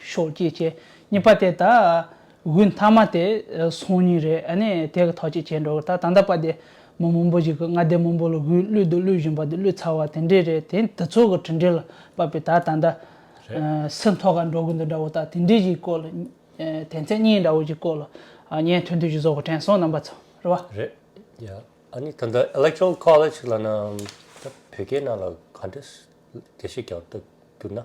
ཤོག་ཅིག་བྱས། གཉིས་པ་དེ་ད་བུའི་མཐའ་མ་དེ་སོང་ཉིན་རེད་ཨ་ནི་དེ་ག་ཐག་ཅིག་བྱས་འགྲོ་གི་ད་ད་ལྟ་པ་དེ་མོ་མང་པོ་ཞིག་གི་མངའ་སྡེ་མང་པོ་ལ་བུའི་གླུད་དུ་གླུད་བཞིན་པ་དེ་གླུད་ཚར་བ་དེ་འདྲས་རེད་དེ་འདི་ཚོ་གི་དྲིན་དྲན་ལ་བབ་པའི་ད་ད་ད་སི་མཐོ་ག་འགྲོ་གི་འདུག་འདྲ་བོ་ད་དེ་འདྲས་ཞིག་སྐོར་ལ་དེ་མཚན་གཉིས་འདྲ་བོ་ཞིག་སྐོར་ལ་བརྙན་ཐུང་དུ་ཞིག་བཟོ་གི་དྲན་སོང་རྣམ་པ་ཚོ་རེད་བ། རེད་ཡ། ཨ་ནི་ད་ལྟ Electoral College ལ་ན་ད་བོད་སྐད་ནང་ལ་ག་འདྲས་དེ་ཤེས་ཀྱང་ད་གྱུར་ན།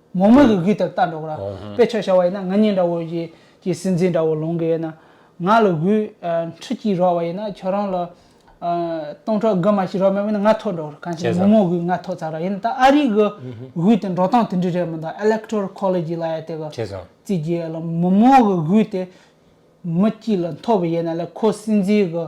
མོག་མོག་གི་གུས་ལྟར་བལྟ་འགྲོ་གི་ར། དཔེ་ཆོས་བྱ་བ་ཡིན་ན་ང་གཉིས་འདྲ་བོ། ཀྱེ་སེམས་ཅན་འདྲ་བོ་ལོང་གི་ཡིན་ན། ང་ལ་གུས། འཁྲུལ་གྱིས་རོགས་བ་ཡིན་ན་ཁྱོད་རང་ལ། སྟོང་ཕྲག་དགུ་མ་ཞིག་རོགས་མེད་པས་ན་ང་ཐོག་འགྲོ་གི་ར་གང་ཞིག་མོག་མོག་གི་ང་ཐོག་ཚར་ར་ཡིན་ན་ད་ཨ་རིག་གི། གུས་དེ་འགྲོ་སྟངས་དེ་འདྲི་རེད་མི་འདུག Electoral College ལ་ཡ་དེ་གི། བྱས་སོང། རྩིས་ཀྱི་ཡ་ལ་མོག་མོག་གི་གུས་དེ། མི་སྐྱིད་ལ་འཐོབ་པ་ཡིན་ན་ལ་ཁོ་སེམས་ཅན་གི།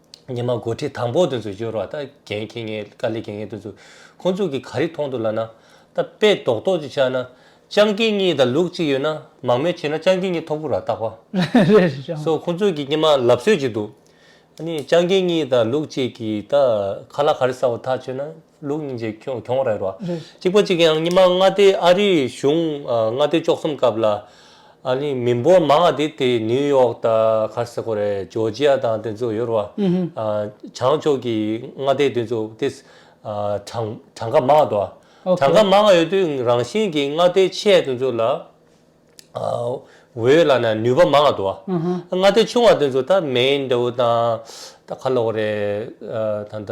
ཉི་མ་འགོ་ཁྲིད་དང་པོ་དེ་ཚོ་ཡོད་རོགས་ད་གན་གྱི་ངའི་དཀའ་ལས་གན་ངའི་དེ་ཚོ་ཁོང་ཚོ་གི་ག་རེ་མཐོང་དུ་ལ་ན་ད་དཔེ་རྡོག་རྡོག་ཅིག་ཆགས་ན་སྤྱང་ཀི་གཉིས་དང་ལུག་གཅིག་ཡོད་ན་མང་མོས་བྱས་ན་སྤྱང་ཀི་གཉིས་ཐོབ་གོ་ར་བཏགས་པ་སོ་ཁོང་ཚོ་གི་གཉིས་མ་ལབ་སྲོལ་ཅིག་འདུག་ཨ་ནི་སྤྱང་ཀི་གཉིས་དང་ལུག་གཅིག་གིས་ད་ཁ་ལག་ག་རེ་ཟ་བ་ཐག་ཆོད་ན། ལུགས་གཉིས་ཀྱི་ཁྱོང་ཁྱོང་རེད་རོ། གཅིག་པ་གཅིག་ཡང་གཉིས་མ་མངའ་སྡེ་ཨ་རིའི་གཞུང་མངའ་སྡེ་བཅོ་གསུམ་སྐབས་ལ། ཨ་ནི་མི་འབོར་མང་བ་དེ་དེ་ནིའུ་ཡོག་ད་གྷར་སི་ཁོ་རེ་ཇོ་ཇི་ཡ་དང་དེ་ཚོ་ཡོད་རོ། ཨ་བྱང་ཕྱོགས་ཀྱི་མངའ་སྡེ་དེ་ཚོ་དེ་ཨ་གྲངས་གྲངས་ཀ་མང་བ་དོ། གྲངས་ཀ་མང་བ་ཡོད་དུས་རང་བཞིན་གྱི་མངའ་སྡེ་ཆེ་དེ་ཚོ་ལ་ཨ་འོས་ལ་ན་ནུས་པ་མང་བ་དོ། མངའ་སྡེ་ཆུང་བ་དེ་ཚོ་ད་མེན་དེའུ་དང་ད་ཁ་ལོག་རེ་ད་ད་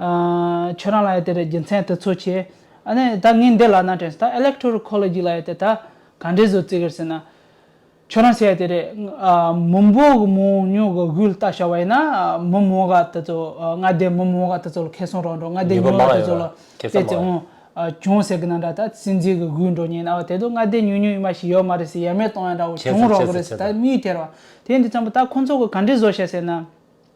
ཁྱོད་རང་ལ་ཡོད་དེ་རྒྱུ་མཚན་དུ་ཚོད་ཆེ། ད་ངས་འདི་ལག་ན་དྲན་སོང། Electoral Ecology ལ་ཡོད་དེ་ད་ག་འདྲའི་བཟོ་རྩིས་ཀྱི་ཟེར་ན། ཁྱོད་རང་བྱས་ཡོད་དེ་རེད། མི་འབོར་གྱི་མི་འོང་ཉུང་གི་དབུས་ལྟ་བྱ་བ་ཡིན་ན། མི་མང་ག་དེ་ཚོ་མངའ་སྡེའི་མི་མང་ག་དེ་ཚོ་ལ་ཁེ་སོང་རག་འགྲོ་མངའ་སྡེ་ཉུང་ག་དེ་ཚོ་ལ་དེ་ཚོ་འོང། བྱུང་ཟེར་གྱི་ན་འདྲ་ད་སྲིད་འཛིན་གྱི་དབུས་འགྲོ་ཉེན་ན་བ་དེ་དུ་མངའ་སྡེ་ཉུང་ཉུང་ཡིན་མ་ཞིག་ཡོད་མ་རེད་ཟེར་ཡ་མེད་གཏོང་ཡ་འདྲ་བོ་བྱུང་རག་གི་རེད་ཟེར་ད་མིའི་ཐེར་བ། དེ་འདི་ཙམ་པོ་ད་ཁོ་ཚོ་གི་ག་འདྲའི་བཟོ་བྱས་ཟེར་ན།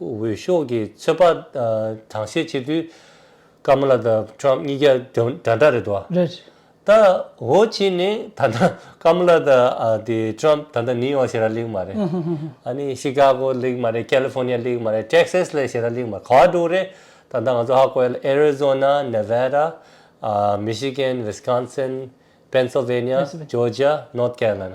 འོས་ཤོག་གི་ཚོད་དཔག་གྲངས་བཤེར་བྱེད་དུས་ཀ་མ་ལ་དང་ཁྲོམ་གཉིས་ཀ་འདྲ་འདྲ་རེད་དོ། རེད། ད་འོ་ཆི་ནི་ད་ནང་ཀ་མ་ལ་དང་དེ་ཁྲོམ་ད་ནང་ནིའི་ཡོག་ཤེས་ར་ལིག་མ་རེད། ཨ་ནི་ཤི་ཀ་གོ་ལིག་མ་རེད་ཀེ་ལི་ཕོ་ནི་ཡ་ལིག་མ་རེད་ཏྲེག་སེས་ལི་ཤེས་ར་ལིག་མ་རེད་ག་བ་འགྲོ་རེད་ད་ལྟ་ང་ཚོ་ཧ་གོ་ཡ་ལ་ཨེ་རི་ཛོ་ན་ནེ་བྷེ་ར་མི་ཤི་གན་ཝིས་ཀན་སིན་པེན་སོ་བྷེ་ནི་ཡ་ཇོ་ཇི་ཡ་ནོར་ཀེ་ར་ལ་ན།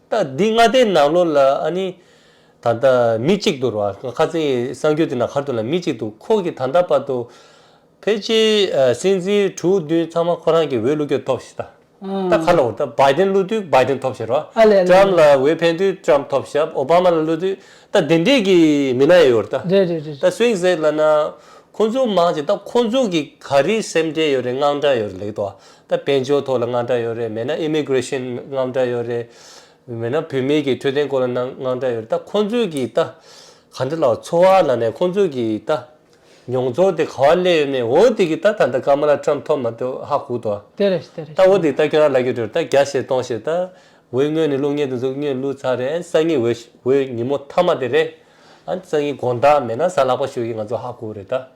ད་འདི་ལྔ་ལྟའི་ནང་ལོ་ལ་ཨ་ནི། ད་ལྟ་མི་གཅིག་ཏུ་རོ། ཁ་ཚེ་གསང་རྒྱུད་དེ་ན་ཁར་དུ་ལ་མི་གཅིག་ཏུ་ཁོག་གི་ད་ལྟ་བར་དུ། ཕལ་ཆེ་སྲིད་འཛིན་དྲུག་བདུན་ཚང་མ་ཁོ་རང་གི་འོས་བླུག་རྒྱུ་ཐོབ་ཤི་ད། ད་ཁ་ལ་འོ་ད་བའི་དེན་བླུག་དུས་བའི་དེན་ཐོབ་ཤི་རོ། ཏྲམ་ལ་འོས་འཕེན་དུས་ཏྲམ་ཐོབ་ཤི་ཨོ་བ་མ་ལ་བླུག་དུས་ད་དེ་འདྲས་ཀྱི་མི་ན་ཡོད་རོ་ད། ད་སུའིང་ཟེར་ལ་ན། ཁོང་ཚོ་མང་ཆེ་ད་ཁོང་ཚོ་གི་ག་རིའི་སེམས་འདྲས་ཡོད་རེད་དངངས་འདྲ་ཡོད་རེད་ལེགས་དོ་ཨ་ད་དཔལ་འབྱོར་ཐོག་ལ་དངངས་སྐྲག་ཡོད་རེད་མེད་ན Immigration དངངས་སྐྲག་ཡོད་རེད། མེད་ན་བུད་མེད་ཀྱི་འཕྲོད་བསྟེན་སྐོར་ལ་དངངས་སྐྲག་ཡོད་རེད་ད་ཁོང་ཚོས་ཀྱི་ད། ག་འདྲ་ལ་འཚོ་བ་ལ་ནས་ཁོང་ཚོས་ཀྱི་ད། མྱོང་ཚོར་དེ་ག་བ་སླེབས་ཡོད་མེད་འོ་དེ་ཀྱི་ད་ད་ལྟ Kamala Trump ཐོབ་མ་ཐོབ་ཧ་གོ་ཏོ། དེ་རེད་དེ་རེད་ད་འོ་དེ་ཀྱི་ད་ཁྱོད་རང་ལ་ཀྱི་དྲོད་ད་བརྒྱ་བྱེད་སྟོང་བྱེད་ད། འོས་དངོས་ནས་ལུགས་ངན་དུ་འཛུགས་ངན་བསླུ་ཚར་རེད་ཨན་སང་ཉིན་འོས་འོས་ཉིན་མོ་མཐའ་མ་དེ་རེད། ཨན་སང་ཉིན་དགོངས་དག་མེད་ན་ཟ་ལག་པ་ཞུ་ཡི་ང་ཚོ་ཧ་གོ་རེད་ད།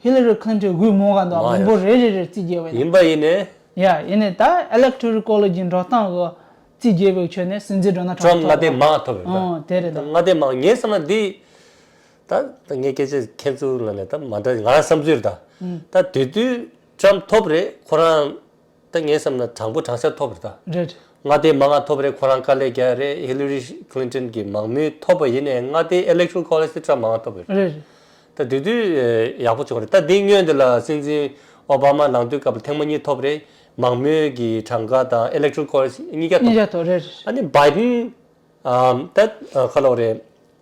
Hillary Clinton དབུས་རྨོངས་ཁང་དུའང་མི་འབོར་རེ་རེ་རེར་རྩིས་རྒྱས་པ་ཡིན། ཡིན་པ་ཡིན་ནས། ཡཱ་ཡིན་ནས་ད Electoral College ཀྱི་འགྲོ་སྟངས་འོག་རྩིས་རྒྱས་པའི་ཁྱོན་ནས་སྲིད་འཛིན་འགྲོ་ན་གྲངས་ཐོ Trump ལྔ་ལྡན་མང་ཐོབ་ཡོད་ད། འོང་དེ་རེད་ད། ལྔ་ལྡན་མང་ངས་བསམ་ན་འདི། ད་ད་ངས་སྐད་ཆ་མཁྱེན་ཚུལ་ལ་ནས་ད་མ་འདྲ་ང་རང་བསམ་ཚུལ་རེད་ད། ད་དེ་དུས Trump ཐོབ་རེད་ཁོ་རང། ད་ངས་བསམ་ན་དྲང་པོ་དྲང་ཤར་ཐོབ་རེད་ད། རེད། མངའ་སྡེའི་མ་མངགས་ཐོབ་རེད་ཁོ་རང་དཀའ་ལས་རྒྱག་ཡ་རེད Hillary Clinton གི་མང་མོས་ཐོབ་པ་ཡིན་ནའི་མངའ་སྡེའི Electoral College དེ Trump མ་མངགས་ཐོབ་པ་རེད། རེད། ད་དེ་དུས་ཡག་པོ་བྱུང་རེད་ད་འདི་སྔོན་དེ་ལ་སྲིད་འཛིན Obama ལངས་དུས་སྐབས་ལ་ཐེངས་མ་གཉིས་ཐོབ་རེད་མང་མོས་ཀྱི་གྲངས་ཀ་དང Electoral College གཉིས་ཀ་ཐོབ། གཉིས་ཀ་ཐོབ་རེད། ཨ་ནི Biden ད་ཁ་ལོག་རེད།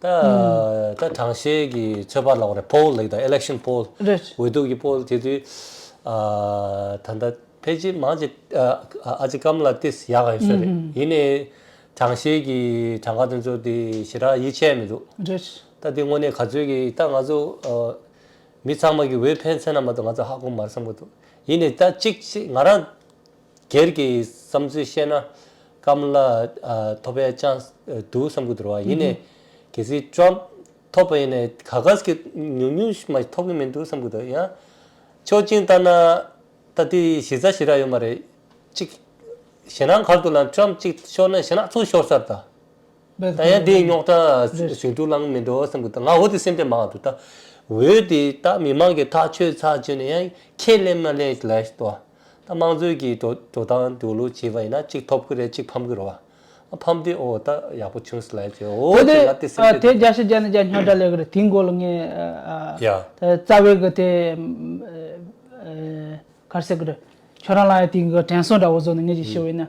ད་ད་དྲང་ཤེས་ཀྱི་ཚོད་དཔག་ལགས་རེད poll ལེགས་དང election poll རེད། འོས་བསྡུ་གི poll དེ་དུས་ད་ད་ཕལ་ཆེར་མང་ཆེ་ཨ་ཅེ་ཀམ་ལ་ཏིས་ཡག་ག་ཡོད་ཤོས་རེད་ཡིན་ནའི་དྲང་ཤེས་ཀྱི་དྲང་ཁ་དེ་ཚོ་དེ་ཞེ་དྲག་ཡིད་ཆེས་མི་འདུག་རེད། ད་དེ་དངོས་གནས་ག་ཚོད་ཀྱི་ད་ང་ཚོ་མི་ཚང་མ་གི་འོས་འཕེན་ཚེ་ན་མ་གཏོགས་ང་ཚོ་ཧ་གོ་མར་བསམ་གི་འདུག་ཡིན་ནའི་ད་གཅིག་ང་རང་སྒེར་གྱི་བསམ་ཚུལ་བཤད་ན། སྐམ་ལ་ཐོབ་པའི chance བསྡུ་བསམ་གྱི་འདུག་བ་ཡིན་ནས། གལ་སྲིད Trump ཐོབ་པ་ཡིན་ནས་ག་གཱས་ཀྱི་ཉུང་ཉུང་ཞིག་མ་ཐོབ་གྱི་མི་འདུག་བསམ་གྱི་འདུག་ཡང། ཆོག་མཆན་བཏང་ན། ད་དེ་གཞི་རྩ་ཞེ་དྲག་ཡོད་མ་རེད། གཅིག། ཞེ་ནག་གར་དུ་ལ Trump གཅིག་ཤོར་ན་ཞེ་ནག་ཚོ་ཤོར་ཚར་ད། ད་ཡང་དེའི་རྙོག་དྲ་ཞིག་འདུག་ལངས་མི་འགྲོ་བསམ་གྱི་འདུག་ང་འོད་དེ་སེམས་པའི་མང་དུ་ད། འོད་དེ་ད་མི་མང་གི་ཐག་ཆོད་ཚར་བྱོས་ནས་ཡང་ཁས་ལེན་མ་ལེན་ལས་ལྡོག་བ། ད་དམངས་གཙོའི་གི་འགྲོ་འགྲོ་སྟངས་འགྲོ་ལུགས་བྱེད་པ་ཡིན་ན་གཅིག་ཐོབ་ཀི་རེད་གཅིག་ཕམ་ཀི་རོ། ཨ་ཕམ་དུས་ཨོ་ད་ཡག་པོ་བྱུང་སི་ལ་ཡ་ཅོའོ་དེ་དེ་ཅེ་ལ་དེ་སེམས་ཁྲལ་དེ་དེ། རྒྱ་ཤི་རྒྱ་ནི་རྒྱ་སྙོ་སྒྲ་ལེ་གི་རེད་དེའི་མགོ་ལ་ངས་ཡ། ཨ་རྩ་བའི་གི་དེ་གར་སེ་གི་རེད་ཁྱོད་རང་ལ་ཡ་དེའི་གི་དྲན་སོང་འདྲ་བོ་བཟོ་ནས་ངས་ཅིག་ཤི་བ་ཡིན་ན་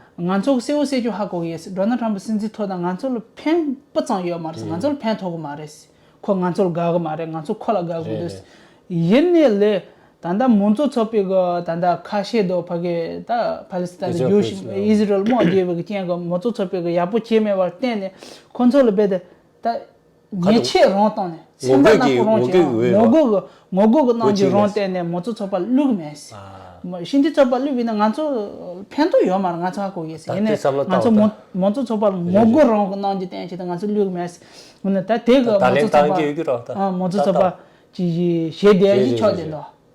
ང་ཚོ་གསལ་བོ་གསལ་རྒྱུ་ཧ་གོ་གི་ཡོད་རེད Donald Trump སྲིད་འཛིན་ཐོག་དང་ང་ཚོ་ལ་ཕན་སྤུ་ཙང་ཡོད་མ་རེད་ང་ཚོ་ལ་ཕན་ཐོག་གི་མ་རེད་ཁོ་ང་ཚོར་དགའ་གི་མ་རེད་ང་ཚོ་ཁོ་ལ་དགའ་དགོས་དུས་ཡིན་ནི་ལེ་ད་ལྟ་མང་གཙོ་ཚོགས་པའི་གི་ད་ལྟ་ཁ་ཤས་དོ་ཕ་གི་ད Palestine ལ་རྒྱུ་ཞིག Israel དམག་རྒྱུ་བའི་གི་རྐྱེན་གི་མང་གཙོ་ཚོགས་པའི་གི་ཡག་པོ་བྱས་མེད་པར་བརྟེན་ནི་ཁོ་ཚོ་ལ་རྦད་དེ་ད། ཉེས་ཆད་རང་བཏང་ནས་ཚན་པ་ནག་པོ་རང་བྱས་ཡང་ངོ་རྒོལ་གྱི་ངོ་རྒོལ་གྱི་གནང་རྒྱུ་རང་བསྟན་ནས་མོ་ཚོ་ཚོགས་པ་བླུགས་མེད། བཞིན་དུ་ཚོགས་པ་བླུགས་བས་ན་ང་ཚོ་ཕན་ཐོག་ཡོད་མ་རེད་ང་ཚོ་ཧ་གོ་གི་ཡིན། ད་ལྟའི་ང་ཚོ་མོ་ཚོ་ཚོགས་པ་ངོ་རྒོལ་རང་གི་གནང་རྒྱུ་བསྟན་བྱས་ཏེ་ང་ཚོ་བླུགས་མེད། ད་དེ་གི་མོ་ཚོ་ཚོགས་པ་ཀྱི་གཞས་འདས་ཀྱི་ཕྱོགས་བསྡད་འདུག།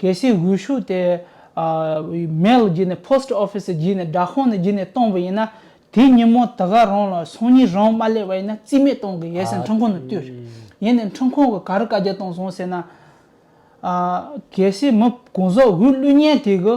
གལ་སྲིད་འོད་ཤུགས་དེ། Mail། བརྒྱུད་ནས Post Office། བརྒྱུད་ནས་སྦྲག་ཁང་ནས་བརྒྱུད་ནས་གཏོང་བ་ཡིན་ན། དེའི་ཉིན་མོ་དེ་ག་རང་ལ་སང་ཉིན་རང་མ་སླེབས་པ་ཡིན་ན་རྩིས་མེད་གཏོང་གི་ཡོད་ཟེར་ཁྲིམས་ཁང་ནས་བསྟུད། ཡིན་ནའི་ཁྲིམས་ཁང་གིས་ག་རེ་བཀའ་རྒྱ་གཏོང་སོང་ཟེར་ན། གལ་སྲིད་མི་དགུང་ཟོག་དབུས་བླུད་ཉལ་དེ་གི།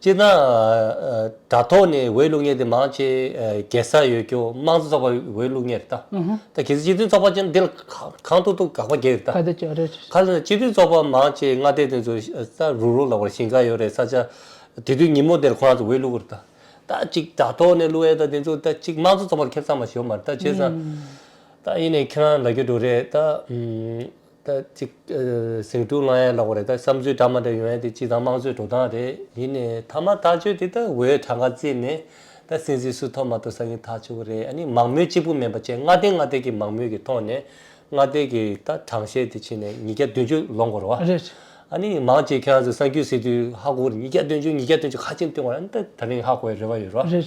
སྤྱིར་ན། དྲ་ཐོག་ནས་འོས་བླུགས་གཉེར་དེ་མང་ཆེ་གེ་སར་ཡོད་རྒྱུ་དམངས་གཙོ་ཚོགས་པ་འོས་བླུགས་གཉེར་རེད་ད། གལ་སྲིད་སྤྱི་མཐུན་ཚོགས་པ་ཅན་འདི་ལ་གང་ཐུག་ཐུག་དགག་པ་རྒྱག་རེད་ད། ཁ་ལ་སྤྱི་མཐུན་ཚོགས་པ་མང་ཆེ་མངའ་སྡེ་དེ་ཚོ་ས་རུག་རུག་ལ་བར་ཞིང་ཁ་ཡོད་རེད་ས་ཆ། དེ་དུས་ཉིན་མོ་དེར་ཁོ་རང་ཚོ་འོས་བླུག་རེད་ད། ད་ཅིག་དྲ་ཐོག་ནས་བླུག་ཡས་ད་དེ་ཚོ་ད་ཅིག་དམངས་གཙོ་ཚོགས་པར་ཁེབས་ཚང་མ་ཞོག་མ་རེད་ད་བྱས་ཙང། ད་ཡིན་ནའི་ཁྱེད་རང་ལ་རྒྱུ་འགྲོ་རེད་ད། ད་ཅིག། ཟེགས་དྲུག་ལྔ་ཡན་ལོག་པ་རེད་ད་བསམ་ཚུལ་འདྲ་མ་འདྲ་ཡོང་ཡ་དེ་སྤྱི་དང་དམངས་གཙོའི་འགྲོ་སྟངས་རེད། ཡིན་ནས་ཐ་མ་ཐག་གཅོད་དེ་ད་འོས་གྲ་འགའ་བརྩིས་ནས་ད་སྲིད་འཛིན་སུ་ཐོབ་མ་ཐོབ་ས་ཡིན་ཐག་ཆོད་གི་རེད་ཨ་ནི་མང་མོས་གཅིག་པུ་མིན་པ་བཅས་མངའ་སྡེ་མངའ་སྡེ་གི་མང་མོས་ཀྱི་ཐོག་ནས་མངའ་སྡེ་གི་ད་དྲང་བཤད་དེ་ཕྱིན་ནས་ཉིས་བརྒྱ་བདུན་ཅུ་ལོ་འགོར་བ། རེད། ཨ་ནི་མང་གཅིག་ཁྱེད་རང་ཚོ་གསར་འགྱུར་སྲིད་དུས་ཧ་གོ་བར་ཉིས་བརྒྱ་བདུན་ཅུ་ཉིས་བརྒྱ་བདུན་ཅུ་ཁ་ཆེམས་བཏོན་བ་ཨ་ནི་ད་ད་རིང་ཧ་གོ་བའི་རེ་བ་ཡོད་རོ། རེད།